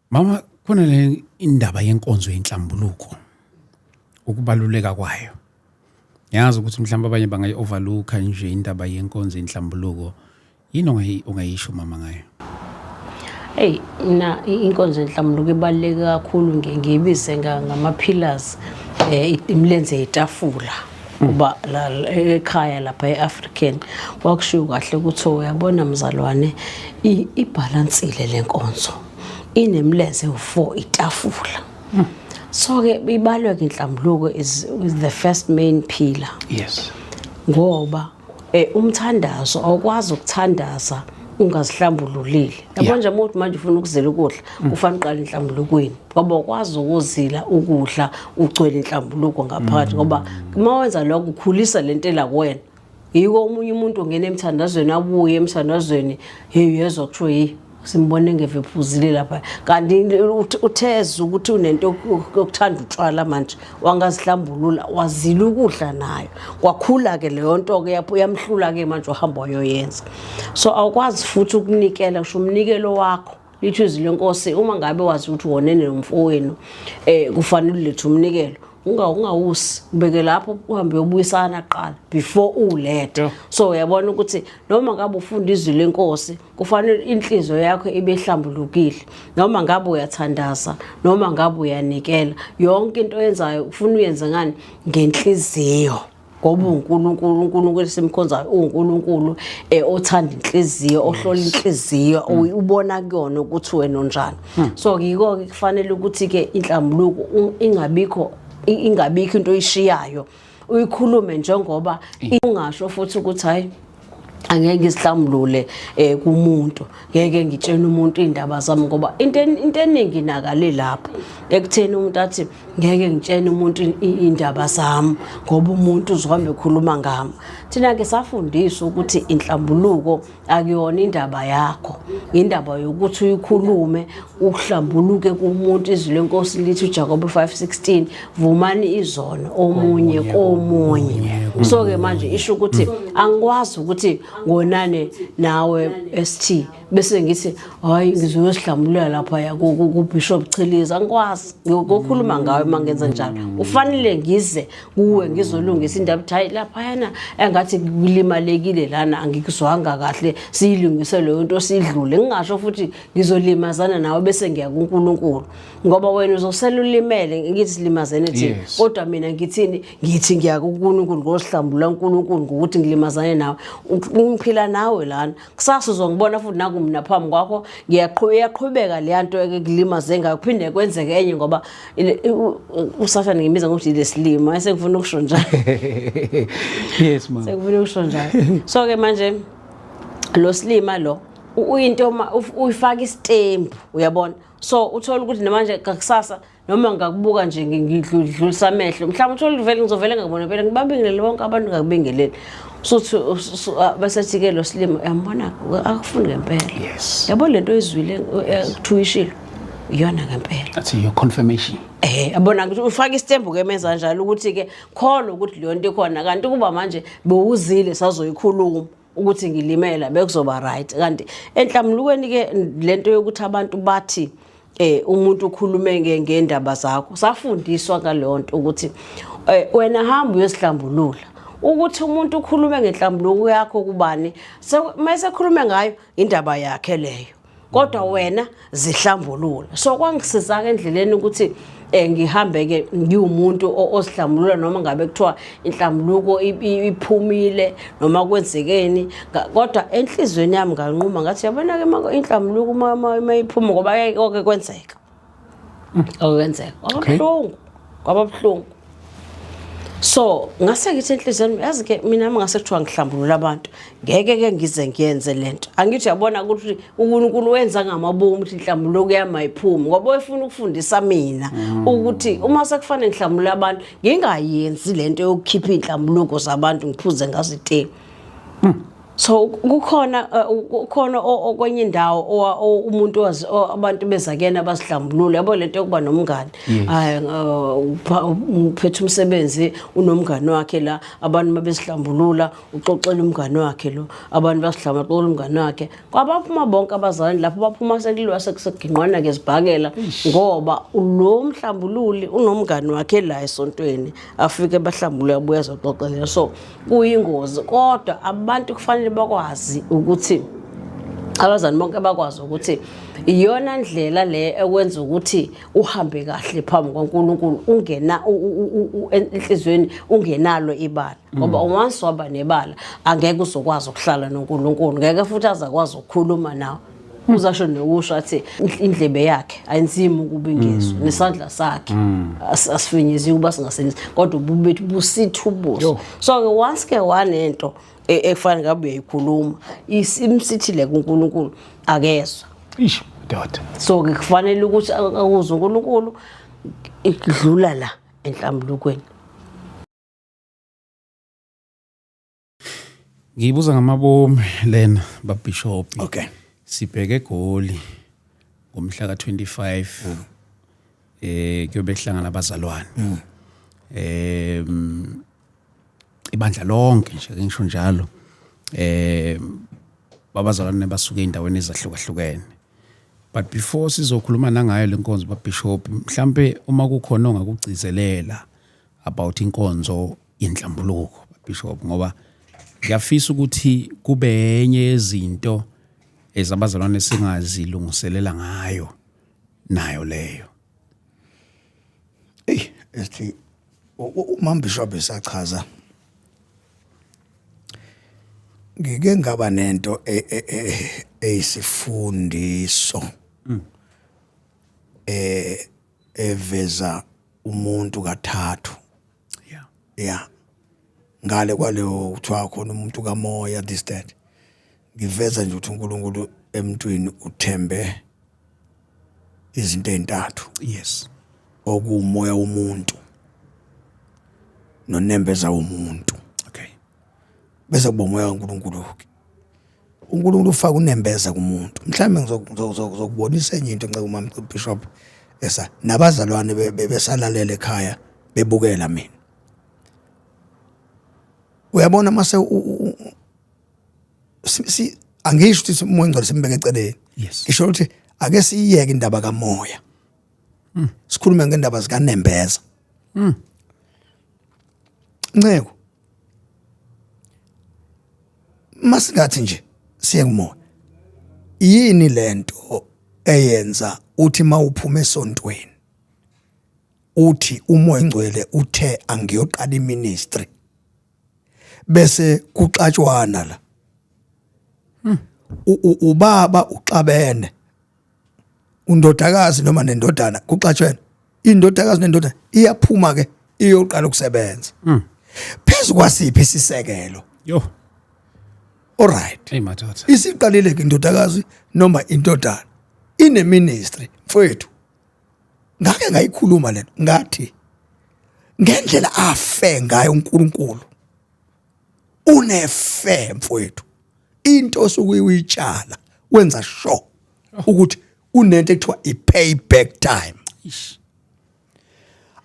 Mama khona le indaba yenkonzo yenhlambuluko ukubaluleka kwayo. Ngiyazi ukuthi mhlawumbe abanye bangayi overlooka nje indaba yenkonzo yenhlambuluko. Yini ongayi ongayisho mama ngayo? Hey mina i- inkonzo yenhlamulo ibaluleke kakhulu ngiye ngiyibize nga- ngama-pillars eh, i- imilenze yetafula uba ekhaya lapha e-african kwakushiwo kahle ukuthi uyabona mzalwane ibhalansile le nkonzo inemlenze u-four itafula so-ke ibalwe-ke inhlambuluko is the first main pillar yes ngoba Eh umthandazo awukwazi ukuthandaza ungazihlambululile yabo nje umuntu manje ufuna ukuzila ukudla mm. ufana uqala inhlambulukweni ngoba ukwazi ukuzila ukudla ugcwele inhlambuluko ngaphakathi mm. ngoba uma wenza lokho ukhulisa le ntela kuwena yiko omunye umuntu ongena emthandazweni abuye emthandazweni hey yezwa kusho yi simbone ngevephuzile lapha kanti utheza ukuthi unento yokuthanda utshwala manje wangazihlambulula wazila ukudla nayo kwakhula-ke leyo nto-ke yamhlula-ke manje ohamba wayoyenza so awukwazi futhi ukunikela kusho umnikelo wakho lithi izwi lenkosi uma ngabe wazi ukuthi wonene nomfowenu um eh, kufanele ulethe umnikelo ungawusi ubeke lapho uhambe uyobuyisana kuqala before ulethe so uyabona ukuthi noma ngabe ufunda izwi lenkosi kufanele inhliziyo yakho ibe ihlambulukile noma ngabe uyathandaza noma ngabe uyanikela yonke into oyenzayo ufuna uyenze ngani ngenhliziyo ngoba uNkulunkulu uNkulunkulu esimkhonzayo uNkulunkulu eh othanda inhliziyo ohlola inhliziyo hmm. ubona kuyona ukuthi wena onjani hmm. so yiko ke kufanele ukuthi ke inhlambuluko ingabikho ingabikho into oyishiyayo uyikhulume njengoba ungasho futhi ukuthi hayi angeke ngisihlambulule eh kumuntu ngeke ngitshene umuntu indaba zami ngoba into into eningi nakale lapha ekutheni umuntu athi ngeke ngitshene umuntu indaba zami ngoba umuntu uzohambe ekhuluma ngami thina ke safundiswa ukuthi inhlambuluko akuyona indaba yakho indaba yokuthi uyikhulume ukuhlambuluke kumuntu izwi lenkosi lithi uJakobe 5:16 vumani izono omunye komunye so ke manje isho ukuthi angikwazi ukuthi ngonane nawe ST bese ngithi hayi ngizoyo sihlambulula lapha ya ku Bishop Chiliza angikwazi ngokukhuluma ngawe mangenza njalo ufanele ngize kuwe ngizolungisa indaba ukuthi hayi laphayana engathi kulimalekile lana angikuzwanga kahle siyilungise leyo nto sidlule ngingasho futhi ngizolimazana nawe bese ngiya kuNkulunkulu ngoba wena uzosela ulimele ngithi silimazene thina kodwa mina ngithini ngithi ngiya kuNkulunkulu ngosihlambula uNkulunkulu ngokuthi ngilimazane nawe ngiphila nawe lana kusasa uzongibona futhi naku mina phambi kwakho ngiyaqhubeka leya nto ekulimaze ngayo kuphinde kwenzeke enye ngoba usathane ngimiza ngokuthi lesilima esengifuna ukusho njalo yes ma sengifuna ukusho njalo so ke manje lo silima lo uyinto uma uyifaka isitembu uyabona so uthola ukuthi namanje kakusasa noma ngakubuka nje ngidlulisa amehlo mhlawumbe uthole uvele ngizovele ngakubona phela ngibabingelele bonke abantu ngakubingeleli usuthi basethi-ke lo silima uyambona akufuni ngempela yabo le nto oyizwile kuthuwishilo iyona ngempela athi your confirmation eh abona ukuthi ufaka isitembu ke meza njalo ukuthi ke khona ukuthi leyo nto ikhona kanti kuba manje bewuzile sazoyikhuluma ukuthi ngilimela bekuzoba right kanti enhlamulukweni ke lento yokuthi abantu bathi eh umuntu ukhulume ngendaba zakho safundiswa ngaleyo nto ukuthi eh, wena hamba uyosihlambulula ukuthi umuntu ukhulume ngenhlambuluko yakho kubani mase khulume ngayo indaba yakhe leyo kodwa wena zihlambulula so kwangisizaka endleleni ukuthi eh ngihambe ke ngiwumuntu osihlambulula noma ngabe kuthiwa inhlambuluko iphumile noma kwenzekeni kodwa enhlizweni yami nganquma ngathi yabona ke inhlambuluko uma iphuma ngoba yayike kwenzeka okwenzeka kwababuhlungu kwababuhlungu so ngase ngithi enhliziyweni yazi ke mina ngase kuthiwa ngihlambulula abantu ngeke ke ngize ngiyenze lento angithi yabona ukuthi uNkulunkulu wenza ngamabomu ukuthi inhlambulo kuyama iphumi ngoba efuna ukufundisa mina mm. ukuthi uma sekufanele ngihlambulula abantu ngingayenzi lento yokukhipha inhlambulo zabantu ngiphuze ngazithe mm. so kukhona uh, kukhona okwenye indawo umuntu abantu bezakena basidlambulule yabo lento yokuba nomngane hayi uh, uphethe umsebenzi unomngane wakhe la abantu mabesidlambulula uxoxela umngane wakhe lo abantu basidlambulula umngane wakhe kwabaphuma bonke abazalwane lapho baphuma sekuliwa sekuseginqwana ke zibhakela ngoba lo mhlambululi unomngane wakhe la esontweni afike bahlambulule abuya zoxoxela so kuyingozi kodwa abantu kufanele bakwazi ukuthi abazali bonke bakwazi ukuthi iyona ndlela le ekwenza ukuthi uhambe kahle phambi kwaNkulunkulu ungena enhlizweni ungenalo ibala ngoba mm. once waba nebala angeke uzokwazi ukuhlala noNkulunkulu ngeke futhi azakwazi ukukhuluma nawe uzasho nokusho athi indlebe yakhe ayinzima ukuba ingizwe mm. nesandla sakhe mm. asifinyeziwe ukuba singasebenzi kodwa ububi bethu busitha ubuso so-ke once ke wanento e, ekufanele ngabe uyayikhuluma imsithile kunkulunkulu akezwa ish doda so-ke kufanele ukuthi akuzwe unkulunkulu idlula la enhlambulukweni ngiyibuza ngamabomu lena babishop okay sibheke egoli ngomhla ka-25 mm. eh kuyobe kuhlangana abazalwane mm. eh ibandla lonke nje ngisho njalo eh babazalwane basuke endaweni ezahlukahlukene but before sizokhuluma nangayo lenkonzo babishop mhlambe uma kukhona ongakugcizelela about inkonzo yenhlambuluko bishop ngoba ngiyafisa ukuthi kube enye yezinto ezabazalwane singazilungiselela ngayo nayo leyo ey esithi umama bishop esachaza ngike ngaba nento e, e, e, eyisifundiso mm. eh eveza umuntu kathathu yeah yeah ngale kwaleyo kuthiwa khona umuntu kamoya this that ngiveza nje ukuthi uNkulunkulu emntwini uthembe izinto ezintathu yes okuumoya womuntu nonembeza womuntu okay bese kubomoya kaNkulunkulu ke uNkulunkulu ufaka unembeza kumuntu mhlawumbe ngizokubonisa enye into nceke umama Bishop esa nabazalwane besalalele ekhaya bebukela mina uyabona mase si angisho ukuthi umoya ngcwele simbeke eceleni ngisho ukuthi ake siyiyeke indaba kamoya hmm. sikhulume ngendaba zikanembeza hmm. nceko masingathi nje siye kumoya yini lento eyenza uthi mawuphuma esontweni uthi umoya ngcwele uthe angiyoqala iministry bese kuxatshwana la hmm. ubaba uxabene undodakazi noma nendodana kuxatshwena indodakazi nendodana iyaphuma ke iyoqala ukusebenza mm. phezu kwasiphi isisekelo yo alright hey madoda isiqalile ke indodakazi noma indodana ine ministry mfowethu ngake ngayikhuluma lento ngathi ngendlela afe ngayo uNkulunkulu unefe mfowethu into osuke uyitshala wenza sure ukuthi kunento ekuthiwa i-payback time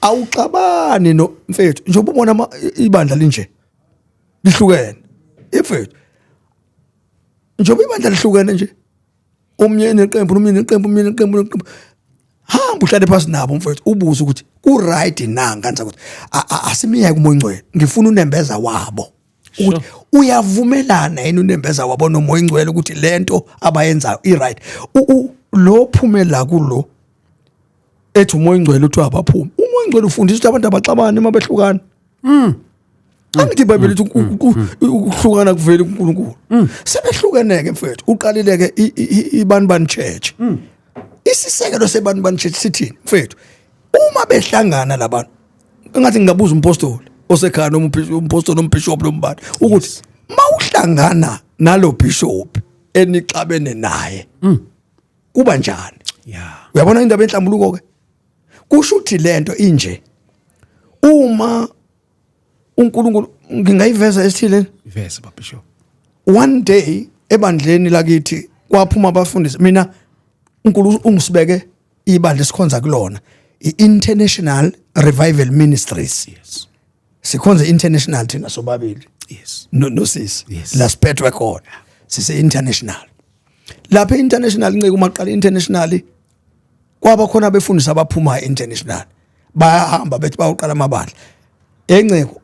awuxabani no mfethu njengoba ubona ibandla linje lihlukene mfethu njengoba ibandla lihlukene nje umyeni neqembu umyeni neqembu umyeni neqembu neqembu hamba uhlale phansi nabo mfowethu ubuze ukuthi ku-right na nganisa ukuthi asimiyeke umoyingcwele ngifuna unembeza wabo ukuthi uyavumelana yini unembeza wabo nomoyingcwele ukuthi le nto abayenzayo i-right lo phume la kulo ethi umoya ongcwele uthi abaphume umoya ongcwele ufundisa ukuthi abantu abaxabani uma behlukana mm. angithi ibhayibheli lithi mm. mm. mm. ukuhlukana kuvela kuNkulunkulu sebehlukeneke mfethu uqalileke ibani bani church isisekelo sebani bani church sithini mfethu uma behlangana labantu engathi ngingabuza umpostoli osekhaya noma umpostoli noma bishop noma bani ukuthi mawuhlangana nalo bishop enixabene naye kuba njani yeah uyabona indaba enhlambuluko ke kusho ukuthi lento inje uma uNkulunkulu ngingayiveza esithile iveza baba sho one day ebandleni lakithi kwaphuma abafundisi mina uNkulunkulu ungisibeke ibandla esikhonza kulona i-International Revival Ministries yes sikhonze international thina sobabili yes no no sis yes. la siphethwe khona sise international lapha international nceke uma qala international kwaba khona abefundisi abaphuma international bayahamba bethi bawuqala amabandla enceko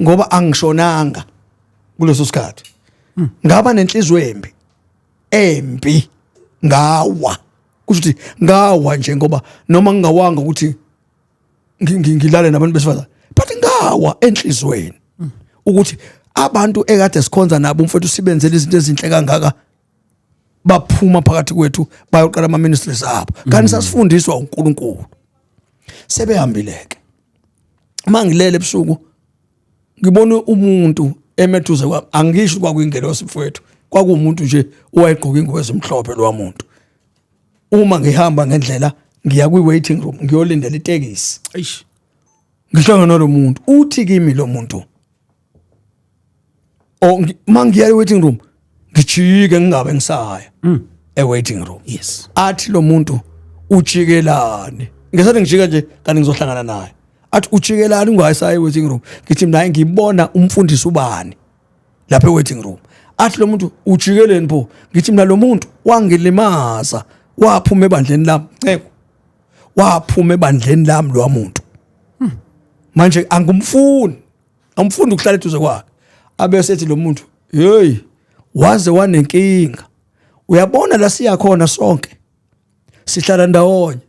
ngoba angishonanga kuleso sikhathi hmm. ngaba nenhliziyo embi embi ngawa kusho ukuthi ngawa nje ngoba noma ngingawanga ukuthi ngi- ngi- ngilale nabantu besifazane but ngawa enhlizweni ukuthi abantu ekade sikhonza nabo umfowethu sibenzele izinto ezinhle kangaka baphuma phakathi kwethu bayoqala ama ministries abo kanti sasifundiswa uNkulunkulu sebehambileke mangilele ebusuku ngibona umuntu emethuze kwami angisho kwakuyingelosi mfowethu kwakuwumuntu nje owayegqoka ingozi emhlophe lowa muntu uma ngihamba ngendlela ngiya kwi-waiting room ngiyolindela itekisi eish ngihlangana nalo muntu uthi kimi lo muntu o oh, ngi- uma ngiya e-waiting room ngijike ngingabe ngisaya Mm. e-waiting room yes athi lo muntu ujikelani ngesathi ngijika nje kanti ngizohlangana naye athi ujikelani ungayisaya e-waiting room ngithi mina ngibona umfundisi ubani lapha e-waiting room athi lo muntu ujikeleni pho ngithi mina lo muntu wangilimaza waphuma ebandleni lami nceko waphuma ebandleni lami lo muntu hmm. manje angumfuni angumfuni ukuhlala eduze kwakhe abese ethi lo muntu hey waze wanenkinga uyabona la siyakhona sonke sihlala ndawonye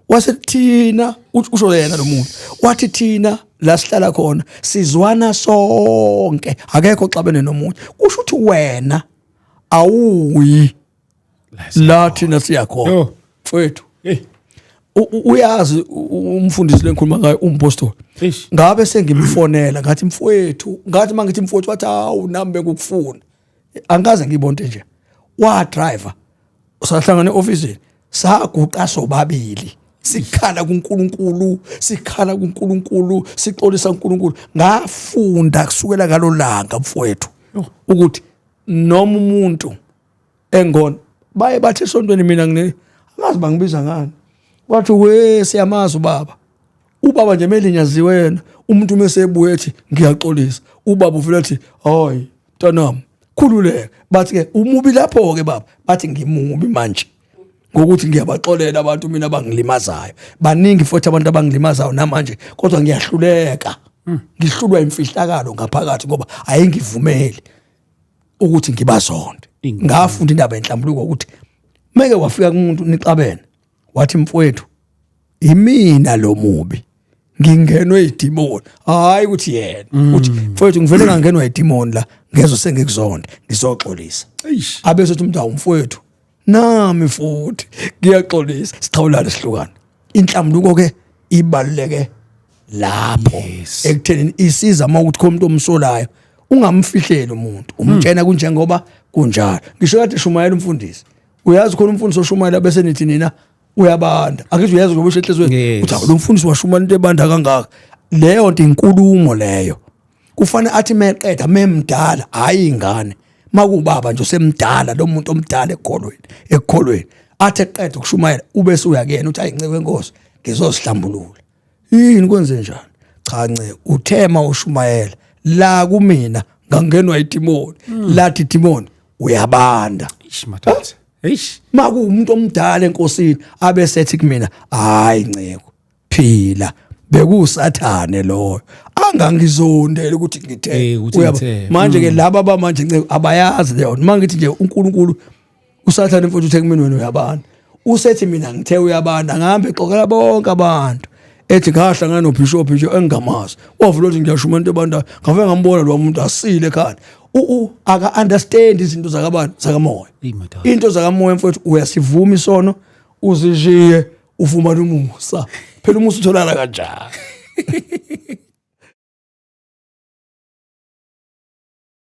wase kuthina usho yena lo muntu wathi thina la sihlala khona sizwana sonke akekho xabene nomunye kusho ukuthi wena awuyi la thina siyakhona mfowethu uyazi umfundisi lengikhuluma ngayo umpostoli ngabe sengimfonela ngathi mfowethu ngathi mangithi mfowethu wathi awu nami bekukufuna angikaze ngibonte nje wa driver usahlangana eoffice saguqa sobabili sikhala kuNkulunkulu sikhala kuNkulunkulu sixolisa uNkulunkulu ngafunda kusukela ngalolanga mfowethu ukuthi noma umuntu engona baye bathi esontweni mina ngine angazi bangibiza ngani wathi we siyamazi ubaba ubaba nje melinyaziwe yena umuntu uma esebuye ethi ngiyaxolisa ubaba uvele athi hayi mntanami khululeka bathi ke umubi lapho ke baba bathi ngimubi manje ngokuthi ngiyabaxolela abantu mina abangilimazayo baningi futhi abantu abangilimazayo namanje kodwa ngiyahluleka hmm. ngihlulwa imfihlakalo ngaphakathi ngoba ayengivumeli ukuthi ngibazonde ngafunda indaba yenhlambuluko ukuthi meke wafika kumuntu nixabene wathi mfowethu imina lo mubi ngingenwe idimoni hayi ukuthi yena mm. uthi mfowethu ngivele ngangenwa idimoni la ngezo sengikuzonde ngizoxolisa abe sothi umuntu awumfowethu nami futhi ngiyaxolisa sixhawulane sihlukane inhlambuluko ke ibaluleke lapho ekutheni isiza uma ukuthi khona umuntu omsolayo ungamfihleli umuntu umtshena mm. kunjengoba kunjalo ngisho kade shumayela umfundisi uyazi khona umfundisi oshumayela bese nithi nina uyabanda angithi uyazi ngoba ushehlezweni Yes. uthi "Hawu, lo mfundisi washumayela into ebanda kangaka leyo nto inkulumo leyo kufanele athi meqeda memdala hhayi ingane makubaba nje usemdala lo muntu omdala ekholweni ekholweni athi eqeda ukushumayela ube suyakuyena uthi ayi ncebe nkosi ngizozihlambulula yini kwenze njani cha nce uthema ushumayela la kumina ngangenwa idimoni hmm. lathi idimoni uyabanda eish mathatha eish makuumuntu omdala enkosini abe sethi kumina hayi nceko phila bekusathane loyo angangizondele ukuthi ngithe eh, manje ke hmm. laba bamanje nceko abayazi leyo mangithi nje uNkulunkulu usathane mfuthu uthe kumina wena uyabana usethi mina ngithe uyabana ngihambe xoxela bonke abantu ethi ngahlangana nobishop nje engingamazi wavula ukuthi ngiyasho umuntu ebanda ngave ngambona lo muntu asile khani u aka understand izinto zakabantu zakamoya into zakamoya mfowethu uyasivuma isono uzishiye ufumana umusa phela umusa utholakala kanjani